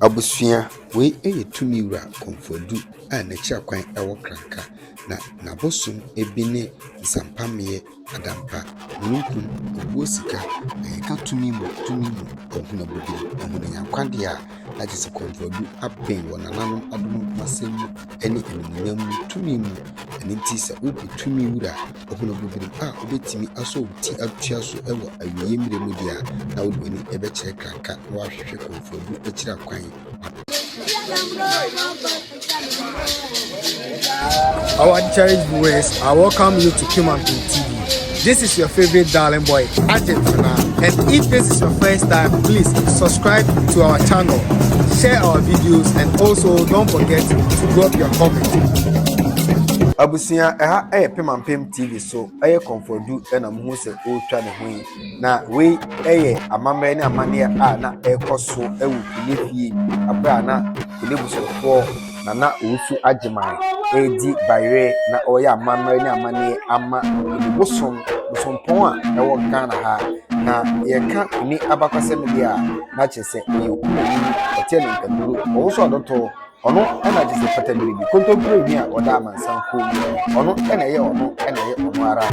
Abusua, wei yɛ tumi wura Komfo Addo a n'akyira kwan wɔ Kranka, na n'abosom bi ne Nsampammeɛ, Adampa, Mununkum, Owuo Sika, na yɛka tumi mu tumi mu Ahunabodini, Ahunanyankwadeɛ a na kyerɛ sɛ Komfo Addo aben wɔ nananom adom ho asɛm mu ne animuonyam mu tumi mu. Ɛno nti sɛ wobu tumi wura a. Ɔhunuu bobiri pa a obetumi asɔ wo ti atua so wɔ awiei mmere mu de a, na wode w'ani bɛkyerɛ krakra na woahwehwɛ kɔmfoabu akyira kwan apɛ. Our cherished viewers, I welcome you to Kimantu TV. This is your favorite darling boy, Agent Fana. And if this is your first time, please subscribe to our channel, share our videos, and also don't forget to drop your comments. Sua ɛha yɛ Pemampem TV so yɛ Comfort Du na muhu sɛ ɔretwa ne ho yi. Na wei yɛ amammerɛ ne amanneɛ a na ɛrekɔ so wɔ Kone fie abere a na Kone busuafoɔ Nana Owusu Agyeman redi bayerɛ na ɔreyɛ amammerɛ ne amanneɛ ama Kone bosom bosompɔn a ɛwɔ Ghana ha. Na yɛka Kone abakɔsɛm deɛ a na kyerɛ sɛ ɔyɛ okunani, ɔteɛ ne nkaduro, ɔwoso adɔtɔ, Ɔno na te sɛ patammire bi, kontompire nhwi a ɔda amansan kuo mu. Ɔno na ɛyɛ ɔno na ɛyɛ ɔno ara.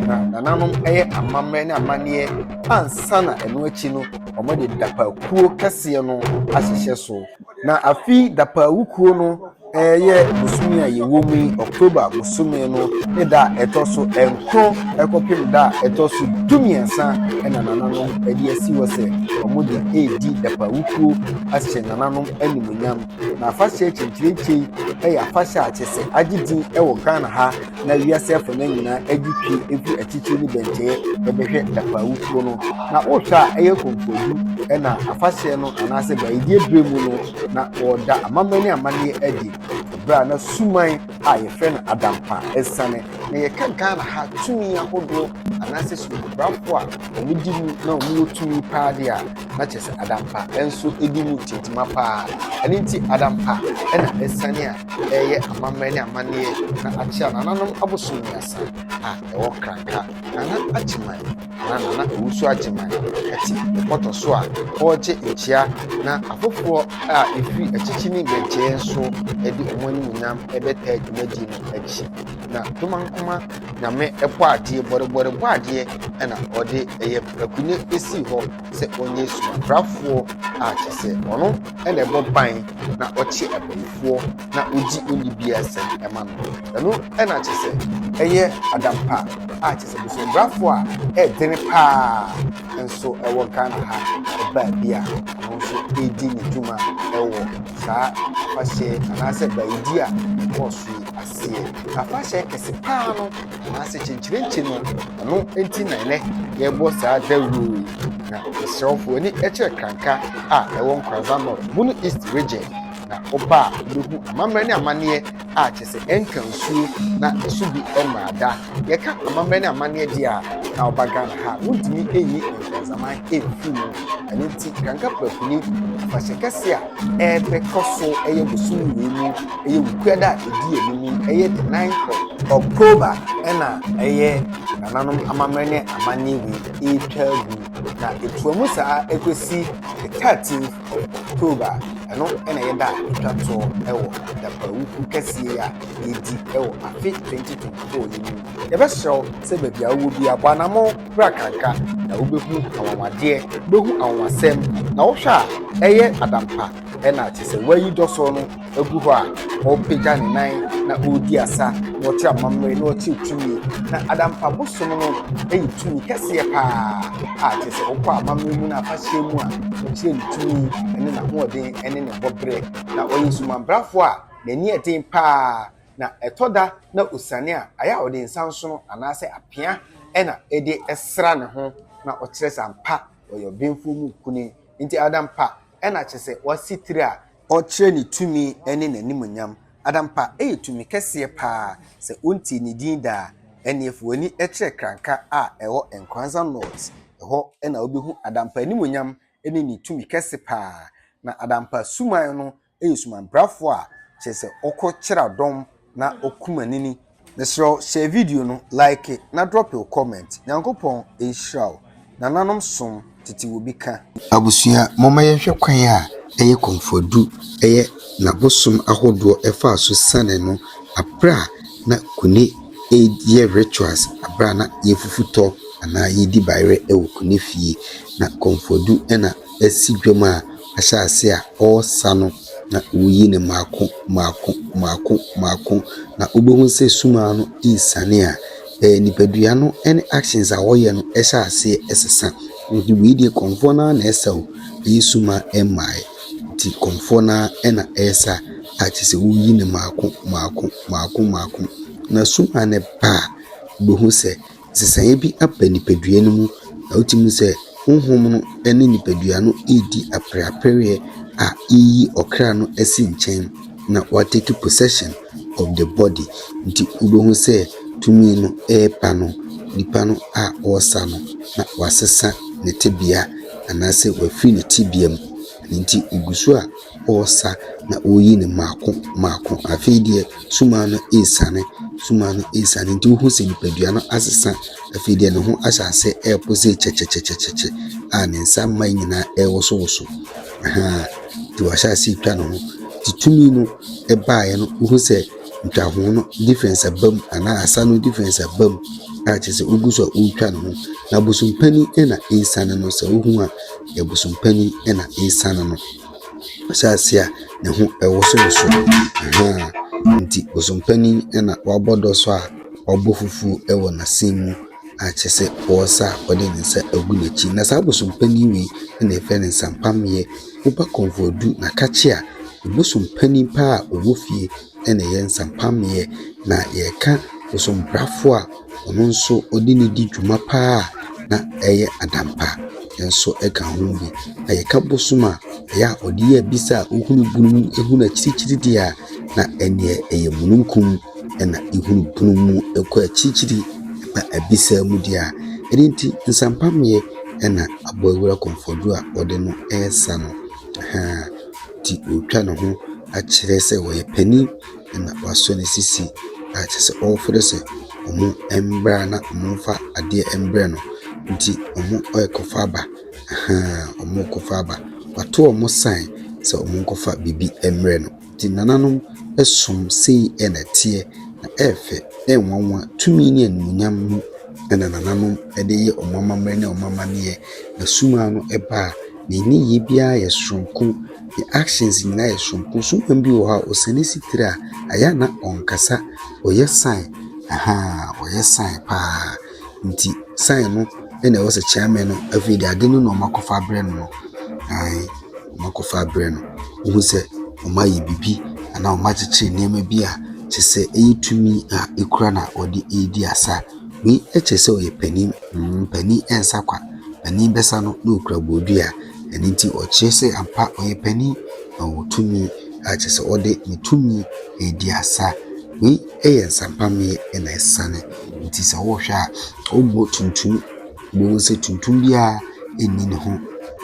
Na nananom yɛ amammerɛ ne amanneɛ ansa na ɛno akyi no wɔde dapaakuo kɛseɛ no ahyehyɛ so. Na afi dapaawukuo no ɛyɛ bosome a yɛwɔ mu yi October bosome no ne da a ɛtɔ so nkron ɛkɔpem da a ɛtɔ so du mmiɛnsa ɛna nananom ɛde asi hɔ sɛ wɔde ɛredi dapaawukuo ahyɛ nananom anim. animuonyam. Na afahyɛ akyinkyirikyi yɛ afahyɛ a kyerɛ sɛ agye din wɔ Ghana ha na wiase afanan nyinaa gye pii fi akyirikyiri ne bɛnkyɛe bɛbɛhwɛ Dapawufoɔ no. Na wohwɛ a ɛyɛ kɔmfoɔdu na afahyɛ no anaasɛ bayidie berɛ mu no na wɔda amammerɛ ne amanneɛ adi. Berɛ a na suman a yɛfrɛ no adampa asiane. Na yɛka Ghana ha tumi ahodoɔ anaasɛ sumanbrafoɔ a wɔdi mu na wɔwɔ tumi paa deɛ a, na kyerɛ sɛ adampa nso di mu tentema paa. Ɛno nti, adampa na asiane a ɛreyɛ amammerɛ ne amanneɛ na akyerɛ a nananom abosom mmiɛnsa a ɛwɔ Kranka, Nana Agyeman anaa Nana Owusu Agyeman te bɔtɔ so a ɔregye nkyea na afoforɔ a ɛfiri akyikyi ne mmɛnkyɛeɛ nso de wɔn animuonyam rebɛtaa dwumadie no akyi. Na Tomankoma Nyame Bɔadeɛ, Bɔrebɔre Bɔadeɛ na ɔde yɛ Akunnye sii hɔ sɛ ɔnyɛ suaprafoɔ a kyerɛ sɛ ɔno na ɛbɔ ban na ɔkye abayifoɔ na ɔgye onnibiasɛm ma no. Ɛno na kyerɛ sɛ ɛyɛ adampa a kyerɛ sɛ bosobrafoɔ a ɛdene paa nso wɔ Ghana ha baabi a ɔno nso redi ne dwuma wɔ saa afahyɛ anaasɛ bayidie a ɛkɔɔ so yi ase. Sɛ yɛ afahyɛ kɛse paa no, anaasɛ kyenkyerenkye no, ɛno nti na ɛnɛ yɛbɔ saa dawuro yi. Na mesrɛ wo fo ani kyerɛ Kranka a ɛwɔ Nkorazan North, Bono East Region, na woba a wobɛhu amammerɛ ne amanneɛ a kyerɛ sɛ ɛntwa nsuo na ɛso bi mmaa da. Yɛka amammerɛ ne amanneɛ deɛ a, na woba Ghana ha a, wontumi nyi Nkorazaman mfiri mu. Ɛno nti Kranka Prapuni, afahyɛ kɛse a Ɛbɛ kɔ so ɛyɛ bosom wei mu ɛyɛ wukua da a ɛdi anim ɛyɛ the ninth of October ɛna ɛyɛ nananom amammerɛ ne amanneɛ wei ɛretwa agu na ɛtoa mu saa ɛkɔsi the thirteenth of October ɛno ɛna ɛyɛ da a ɛtwa toɔ ɛwɔ adapawuku kɛseɛ yi a yɛdi ɛwɔ afe twenty twenty four yi mu yɛbɛsrɛ wo sɛ baabi a wowɔ biara bɔ anamɔ Wura kanka, na wobɛhu anwanwadeɛ, wobɛhu anwanwasɛm, na wohwɛ a, ɛyɛ adampa, ɛna kyerɛ sɛ wayi dɔsɔɔ no agu hɔ a ɔrepagya ne nan na ɔredi asa na ɔte amammerɛ na ɔte tumi, na adampa bosom no yɛ tumi kɛseɛ paa a kyerɛ sɛ wokɔ amammerɛ mu na afahyɛ mu a ɔkyerɛ ne tumi ne n'ahoɔden ne ne bɔberɛ, na ɔyɛ sumanbrafoɔ a n'ani yɛ den paa. na ɛtɔ da na osiane a, ayɛ a ɔde nsa nsono anaasɛ apea na ɛde sra ne ho na ɔkyerɛ sɛ ampa ɔyɛ ɔbenfoɔ mu kuni. Nti adampa na kyerɛ sɛ wasi tiri a. Ɔkyerɛ ne tumi ne n'animuonyam. Adampa yɛ tumi kɛseɛ paa. Sɛ wontie ne din da a, ɛneɛ fa w'ani kyerɛ Kranka a ɛwɔ Nkoranza North. Ɛhɔ na wobɛhu Adampa animuonyam ne ne tumi kɛse paa. Na Adampa suman no yɛ sumanprafoɔ a kyerɛ sɛ ɔkɔ kyera dɔm na ɔkuma nini. Mesrɛ wo share video no, like na drop wo comment. Nyankopɔn nhyira wo. Nananom som tete wɔ bi ka. Abusua momma yɛnhwɛ kwan a ɛyɛ kɔmfoɔdu ɛyɛ na bosom ahodoɔ ɛfaa so siane no aberɛ a na kune yɛ rituals aberɛ a na yɛfufu tɔ anaa yɛdi bayerɛ wɔ kune fie na kɔmfoɔdu na asi dwam a ahyɛase a ɔresa no na ɔreyi no mmaako mmaako mmaako mmaako. Na wobɛhu sɛ summa no resiane a, ɛyɛ nipadua no ne actions a wɔyɛ no hyɛ aseɛ ɛsesa. Nti wei deɛ kɔmfoɔ no ara na ɛresa o, ɛnyɛ summa mmaeɛ. Nti kɔmfoɔ no ara na ɛresa a kyerɛ sɛ woreyi no mmaako mmaako mmaako mmaako. Na summa no ba a, wobɛhu sɛ. nsesaeɛ bi aba nipadua no mu na wotumi hu sɛ honhom no ne nipadua no redi apereapereɛ a ɛreyi ɔkra no asi nkyɛn na wɔatake possession of the body. Nti wobɛhu sɛ tumi no reba no, nipa no a wɔresa no na wasesa ne tebea anaasɛ wafiri ne tebea mu. Ɛno nti ɔgu so a. ɔɔsa na oyi no mako mako. Afei deɛ sumaa no eesane, sumaa no eesane nti wohu sɛ nipadua no asesa. Afei deɛ ne ho ahyɛ ase ɛɛpo se kyɛkyɛkyɛkyɛkyɛ a ne nsa mma nyinaa ɛɛwosowoso ahaa nti wahyɛ ase etwa ne ho. Nti tumi no ɛbaeɛ no wohu sɛ ntwaho no difference aba mu anaa asa no difference aba mu a kyerɛ sɛ ogu so a ootwa ne ho. Na bosompanin ɛna eesane no sɛ wohu a yɛ bosompanin ɛna eesane no. Asase a ne ho ɛwosowoso ahaa nti bosompanin na wabɔ dɔ so a ɔbɔ fufuo ɛwɔ n'asen mu a kyerɛ sɛ ɔresa a ɔde ne nsa agu n'akyi. Na saa bosompanin wei na yɛfrɛ no nsampamyɛ. Woba kɔnfuadu na ka kye a, bosompanin paa a ɔwɔ fie na ɛyɛ nsampammeɛ na yɛreka bosompafoɔ a ɔno nso ɔde no di dwuma pa ara na ɛyɛ adampa nso ka ho bi. Na yɛka bosom a, ɛyɛ a ɔde yɛ abisa a wohunu bunu mu hunu akyirikyiri deɛ a, na ɛnneɛ ɛyɛ mununkum na wohunu bunu mu kɔ akyirikyiri ba abisa mu deɛ a. Ɛno nti nsampammeɛ na aboawura komfɔduo a ɔde no resa no, ɛhaa. nti ɔretwa ne ho akyerɛ sɛ ɔyɛ panin na wasɔ ne sisi a kyerɛ sɛ ɔrefrɛ sɛ wɔmmra na wɔmfa adeɛ mmrɛ no. Nti wɔrekɔfa aba, ahaa, wɔrekɔfa aba. Wɔato wɔn sign sɛ wɔnkɔfa biribi mmrɛ no. Nti nananom som sei na ɛteɛ, na ɛyɛ fɛ, ɛyɛ nwanwa. Tumi ne animuonyam mu na nananom de yɛ wɔn amammerɛ ne wɔn amanneɛ. Na sum ara no ba a. Ne nneyɛe biara yɛ soronko. Ne actions nyinaa yɛ soronko. Sukuupɔn bi wɔ hɔ a, ɔsɛ ne sitire a, ɛyɛ a na ɔnkasa. Ɔyɛ sign, ahaa, ɔyɛ sign pa ara. Nti sign no na ɛwɔ sɛ chairman no afei de ade no na wɔakɔfa abrɛ no no, ae, wɔakɔfa abrɛ no. Wohu sɛ wɔayɛ biribi anaa wɔakyekyere nneɛma bi a, kyerɛ sɛ ɛyɛ tumi a ɛkura na ɔde redi asa. Wei kyerɛ sɛ ɔyɛ panin. Panin nsa kwa. Panin bɛsa no na ɔkura bodua. Ɛno nti ɔkyerɛ sɛ ampa ɔyɛ panin. Ɔwɔ tumi a kyerɛ sɛ ɔde ne tumi redi asa. Wei yɛ nsampammeɛ na asiane. Nti sɛ wohwɛ a, ɔbɔ tuntum. Wobɛhu sɛ tuntum biara nni ne ho.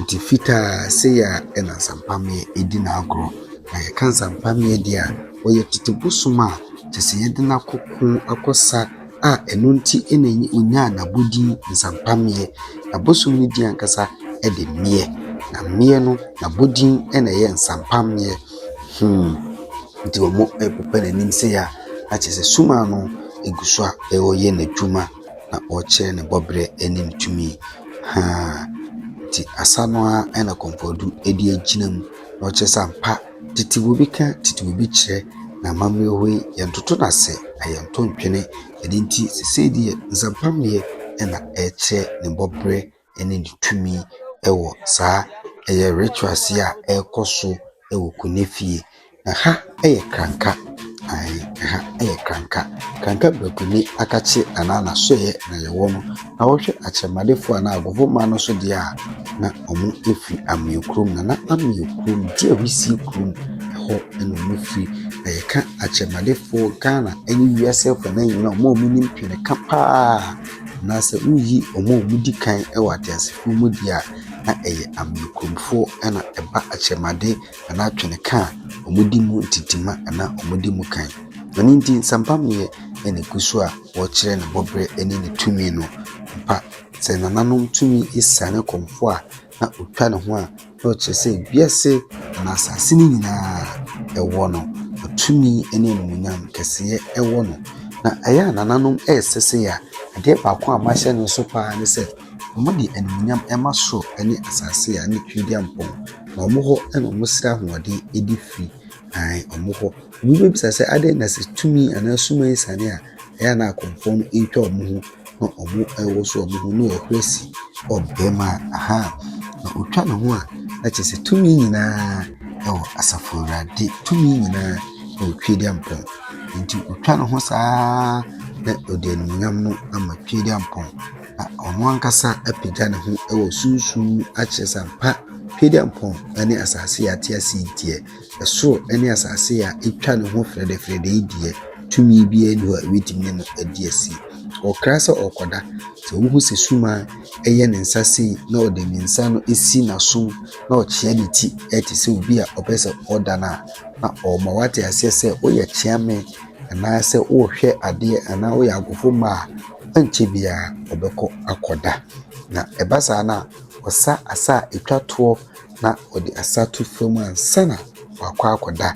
Nti fitaa sei ara na nsampammeɛ di n'agorɔ. Na yɛka nsampammeɛ deɛ a. Ɔyɛ tete bosom a kyerɛ sɛ yɛde no akɔko, akɔsa a ɛno nti na ɛnyi ɔnyaa n'abodin Nsampameneɛ. Na bosom no din ankasa de Meɛ. Na Meɛ no n'abodin na ɛyɛ Nsampameneɛ. Hmm, nti wɔrepepa n'anim sei a, na kyerɛ sɛ sum ano gu so a ɔreyɛ n'adwuma na ɔrekyerɛ ne bɔberɛ ne ne tumi. Haa, nti asa no ara na Komfoɔ Addo de agyina mu na ɔkyerɛ sɛ ampa Tete bobi ka tete bobi kyerɛ na amammerɛ hɔ yi yɛntoto no ase na yɛnto ntwene. Ɛno nti seesei deɛ nsɛmpammeɛ na ɛrekyerɛ ne bɔberɛ ne ne tumi wɔ saa ɛyɛ rituals yi a ɛrekɔ so wɔ Kone fie. Na ha yɛ Kranka. Ae, ɛha yɛ kranka. Kranka brakuni akakye anaa n'asoɛɛ na yɛwɔ no, na wohwɛ akyerɛmadefo anaa agofo man no so deɛ a, na wɔfiri Ameo kurom. Na na Ameo kurom, Gyia Wisie kurom, ɛhɔ na wɔfiri. Na yɛka akyerɛmadefo, Ghana ne wiase afanan nyinaa a, wɔn a wɔnim Twene ka pa ara, anaa sɛ woreyi wɔn a wɔdi kan wɔ ateasefo mu deɛ a, na ɛyɛ Ameo kuromfoɔ na ɛba akyerɛmade. anaa twene ka a, wɔdi mu ntintimma anaa wɔdi mu kan. Ɛno nti, nsɛmpammeyɛ na ɛgu so a wɔkyerɛ ne bɔberɛ ne ne tumi no. Ampa, sɛ nananom tumi siane kɔmfoɔ a, na ɔtwa ne ho a, na ɔkyerɛ sɛ wiase anaa asase no nyinaa ɛwɔ no, ɔtumi ne animuonyam kɛseɛ ɛwɔ no. Na ɛyɛ a nananom ɛresesee a, adeɛ baako a mahyɛ no nso paa ne sɛ, Wɔde animuonyam ma soro ne asase a ne tirimupɔ. Na wɔwɔ hɔ na wɔsrɛ ahoɔden de firi. Ae, wɔwɔ hɔ. Obi bɛbisa sɛ, adɛn na sɛ tumi anaa sum asiane a, ɛyɛ a na akorɔmfoɔ no retwa wɔn ho na wɔwoso wɔn ho na wɔhuri asi ɔbarima a, aha, na ɔtwa ne ho a, na kyerɛ sɛ tumi nyinaa wɔ Asafo Awurade. Tumi nyinaa wɔ Tweaduampɔn. Enti ɔtwa ne ho saa ara na ɔde animuonyam no ama Tweaduampɔn. Na ɔno ankasa apagya ne ho wɔ sunsum mu akyerɛ sɛ ampa Tweaduampɔn ne asase a yɛate ase yi deɛ, ɛsoro ne asase a atwa ne ho frɛdɛfrɛdɛ yi deɛ, tumi biara nni hɔ a ɛbɛtumi ne no adi asi. Ɔkra sɛ ɔkɔda, sɛ wohu sɛ suma ɛyɛ ne nsa sei na ɔde ne nsa no si n'asom na ɔkyea ne ti ɛte sɛ obi a ɔpɛ sɛ ɔda no a, na ɔma wate aseɛ sɛ woyɛ kyea me anaasɛ worehwɛ adeɛ anaa woyɛ agofomu a, ɛnkyɛ biara wobɛkɔ akɔda. Na ɛba saa no a, wɔsa asa a ɛtwa toɔ na wɔde asa to fam ansa na wɔakɔ akɔda.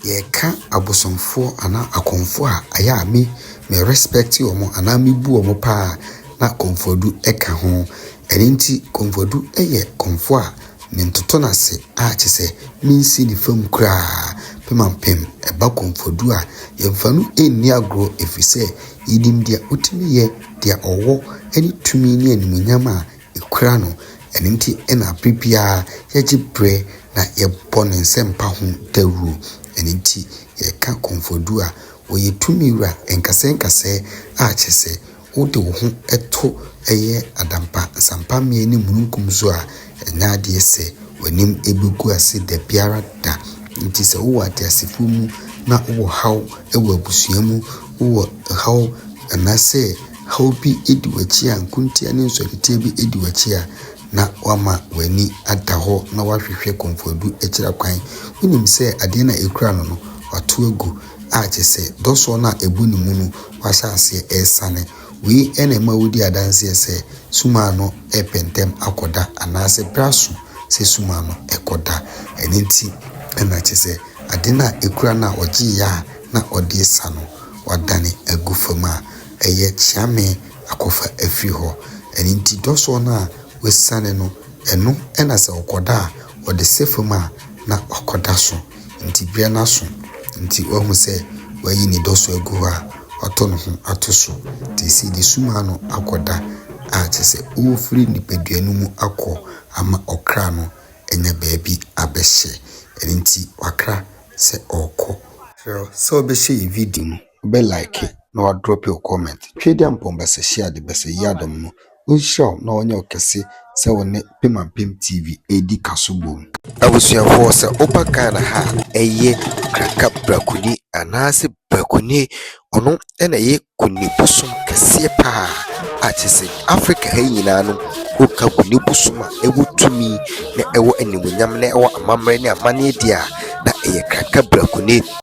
Yɛka abosomfoɔ anaa akɔmfoɔ a, ɛyɛ a me me respect wɔn anaa mebu wɔn pa ara na Komfodu ka ho. Ɛno nti Komfodu yɛ kɔmfoɔ a Mentoto no ase a kyerɛ sɛ mensi ne fam koraa. Pemampem ɛba Komfodu a, yɛmfa no nni agorɔ ɛfiri sɛ yɛnim deɛ ɔtumi yɛ, deɛ ɔwɔ ne tumi ne animuonyam a ɛkura no. Ɛno nti na berɛ biara yɛgye berɛ na yɛbɔ ne nsɛmpa ho dawuro. Ɛno nti yɛka Komfodu a, ɔyɛ tumi wura nkasɛɛ nkasɛɛ a kyerɛ sɛ Wode wo ho to yɛ adampa nsampammeɛ ne mununkum so a, ɛnyɛ adeɛ sɛ w'anim bɛgu ase da biara da. Nti sɛ wowɔ ateasefoɔ mu na wowɔ haw wɔ abusua mu, wowɔ haw anaasɛ haw bi di w'akyi a, nkontia ne nsɔretia bi di w'akyi a, na wama w'ani ada hɔ na wahwehwɛ kɔmfoɔdu akyira kwan. Wonim sɛ adeɛ no a ɛkura no no, wato agu. a kyɛ sɛ dɔsɔɔ no a ɛbu ne mu no wahyɛ aseɛ ɛresane. Wei na ɛma wodi adanseɛ sɛ sum ano repɛ ntɛm akɔda anaasɛ berɛ aso sɛ sum ano kɔda. Ɛno nti na kyɛ sɛ ade no a ɛkura no a ɔgyeeɛ a na ɔde resa no wadane agu fam a ɛyɛ kyeame akɔfa afiri hɔ. Ɛno nti dɔsɔɔ no a wasiane no ɛno na sɛ ɔkɔda a ɔde sɛ fam a na wakɔda so. Enti berɛ no aso nti wahu sɛ wayi ne dɔ so agu hɔ a, watɔ ne ho ato so. Nti ɛsei de sum ano akɔ da a kyerɛ sɛ ɔrefiri nipadua no mu akɔ ama ɔkra no anya baabi abɛhyɛ. Ɛno nti wakra sɛ ɔrekɔ. Kyerɛ sɛ ɔbɛhyɛ yɛn video mu. bɛ like na wa drop wo comment. Tweduampɔn Basahyia de Basayi adom no ɔnhyira wo na ɔnyɛ wo kɛse sɛ wo ne Pemampem TV ɛredi kaso bom. Abusuafoɔ sɛ woba Ghana ha a ɛyɛ Kraka Brakuni anaasɛ Brakuni ɔno na ɛyɛ Kuni bosom kɛseɛ paa a kyerɛ sɛ Africa ha nyinaa no woka Kuni bosom a ɛwɔ tumi na ɛwɔ animuonyam na ɛwɔ amammerɛ ne amanneɛ deɛ a na ɛyɛ Kraka Brakuni.